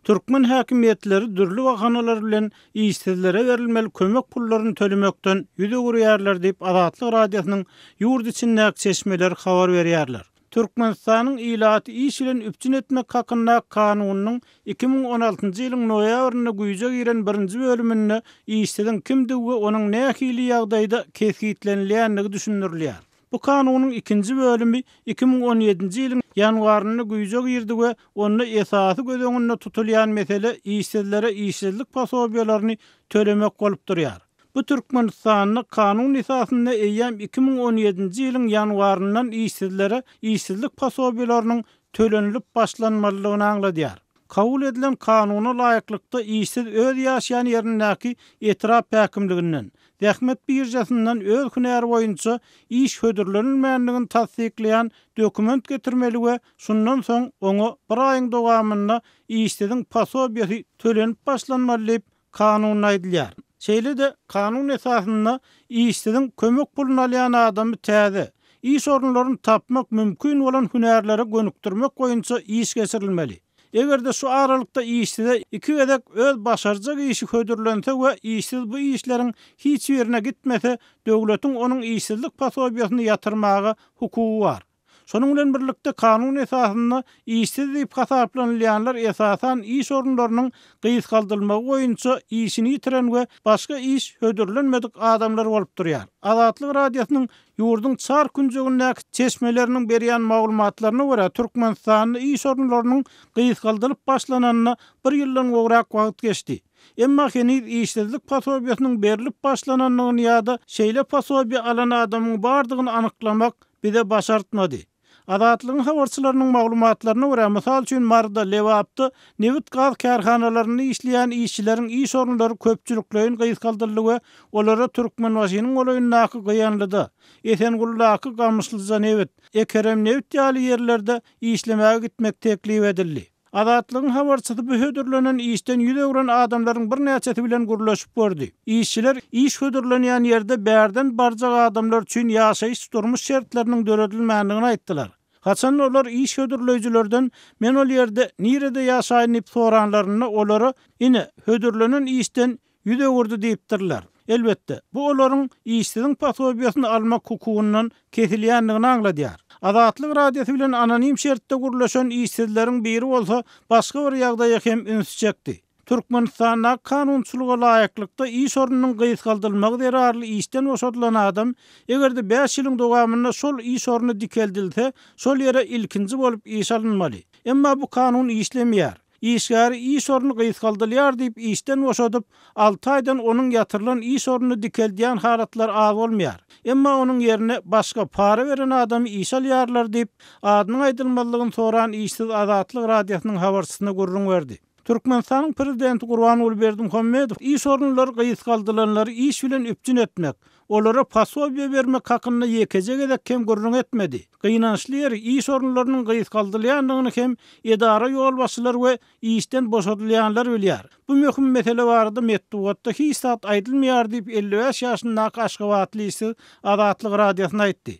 Türkmen häkimiýetleri dürli bahanalar bilen işsizlere berilmeli kömek pullaryny tölemekden ýüz öwürýärler diýip, Azatlyk Radiosynyň ýurt içindäki çeşmeleri habar berýärler. Türkmenistanyň ilaty iş bilen üpjün etmek hakyndaky Kanunynyň iki müň on altynjy ýylyň noýabrynda güýje giren birinji bölüminde işsiziň kimdigi we onuň nähili ýagdaýda kesgitlenilýändigi düşündirilýär. Bu Kanunyň ikinji bölümi iki müň on ýedinji ýylyň ýanwarynda güýje girdi we onda esasy göz öňünde tutulýan mesele işsizlere işsizlik posobiýalaryny tölemek bolup durýar. Bu Türkmenistanda kanun esasynda eýýäm iki müň on ýedinji ýylyň ýanwaryndan işsizlere işsizlik posobiýalarynyň tölenilip başlanmalydygyny aňladýar. Kabul edilen kanuna laýyklykda işsiz öz ýaşaýan ýerindäki etrap häkimliginden, zähmet biržasyndan öz hünäri boýunça iş hödürlenilmändigini tassyklaýan dokument getirmeli we şundan soň oňa bir aýyň dowamynda işsiziň posobiýasy tölenip başlanmaly diýip, Kanunda aýdylýar. Şeýle-de kanun esasynda işsiziň kömek puluny alýan adamy täze, iş orunlaryny tapmak mümkin bolan hünärlere gönükdirmek boýunça iş geçirilmeli. Eger-de şu aralykda işsize iki gezek öz başarjak işi hödürlense we işsiz bu işleriň hiç birine gitmese, döwletiň onuň işsizlik posobiýasyny ýatyrmaga hukugy bar. Şonuň bilen birlikde, kanun esasynda işsiz diýip hasaplanylýanlar esasan iş orunlarynyň gysgaldylmagy boýunça işini ýitiren we başga iş hödürlenmedik adamlar bolup durýar. Azatlyk Radiosynyň ýurduň çar künjegindäki çeşmeleriniň berýän maglumatlaryna görä, Türkmenistanda iş orunlarynyň gysgaldylyp başlananyna bir ýyldan gowrak wagt geçdi. Emma heniz işsizlik posobiýasynyň berlip başlanandygyny ýa-da şeýle posobiýa alan adamyň bardygyny anyklamak bize başartmady. Azatlygyň habarçylarynyň maglumatlaryna görä, mysal üçin Maryda, Lebapda nebit-gaz kärhanalarynda işleýän işçileriň iş orunlary köpçülikleýin gysgaldyldy we olara Türkmenbaşynyň golaýyndaky Gyýanlyda, Esengulydaky Gamyşlyjanebit, Ekeremnebit ýaly ýerlerde işlemäge gitmek teklip edildi. Azatlygyň habarçysy bu hödürlenen işden ýüz öwren adamlaryň birnäçesi bilen gürleşip gördi. Işçiler iş hödürlenýän ýerde bärden barjak adamlar üçin ýaşaýyş-durmuş şertleriniň döredilmändigini aýtdylar. Haçan olar iş hödürleýjilerden Men ol ýerde nirede ýaşaýyn diýip soranlarynda olara Ine, hödürlenen işden Ýüz öwürdi diýipdirler. Elbetde, bu olaryň işsiziň posobiýasyny almak hukugyndan kesilýändigini aňladýar. Azatlyk Radiosy bilen anonim şertde gürleşen işsizleriň biri bolsa başga bir ýagdaýa hem ünsi çekdi. Türkmenistandaky kanunçylyga laýyklykda iş ornunyň gysgaldylmagy zerarly işden boşadylan adam, eger-de bäş ýylyň dowamynda şol iş orny dikeldilse, şol ýere ilkinji bolup iş alynmaly. Emma bu kanun işlemeýär. Işgäri iş orny gysgaldylýar diýip işden boşadyp, alty aýdan onuň ýatyrylan iş ornuny dikeldýän halatlar az bolmaýar. Emma onuň ýerine başga, para beren adamy işe alýarlar diýip, adynyň aýdylmazlygyny soran işsiz Azatlyk Radiosynyň habarçysyna gürrüň berdi. Türkmenistanyň Prezidenti Gurbanguly Berdimuhamedow iş orunlary gysgaldylanlary iş bilen üpjün etmek, Olara posobiýe bermek hakynda ýekeje gezek hem gürrüň etmedi. Gynançly ýeri, iş orunlarynyň gysgaldylýandygyny hem edara ýolbaşçylary we işden boşadylýanlar bilýär. Bu möhüm mesele barada metbugatda hiç zat aýdylmaýar diýip elli bäş ýaşyndaky aşgabatly işsiz Azatlyk Radiosyna aýtdy.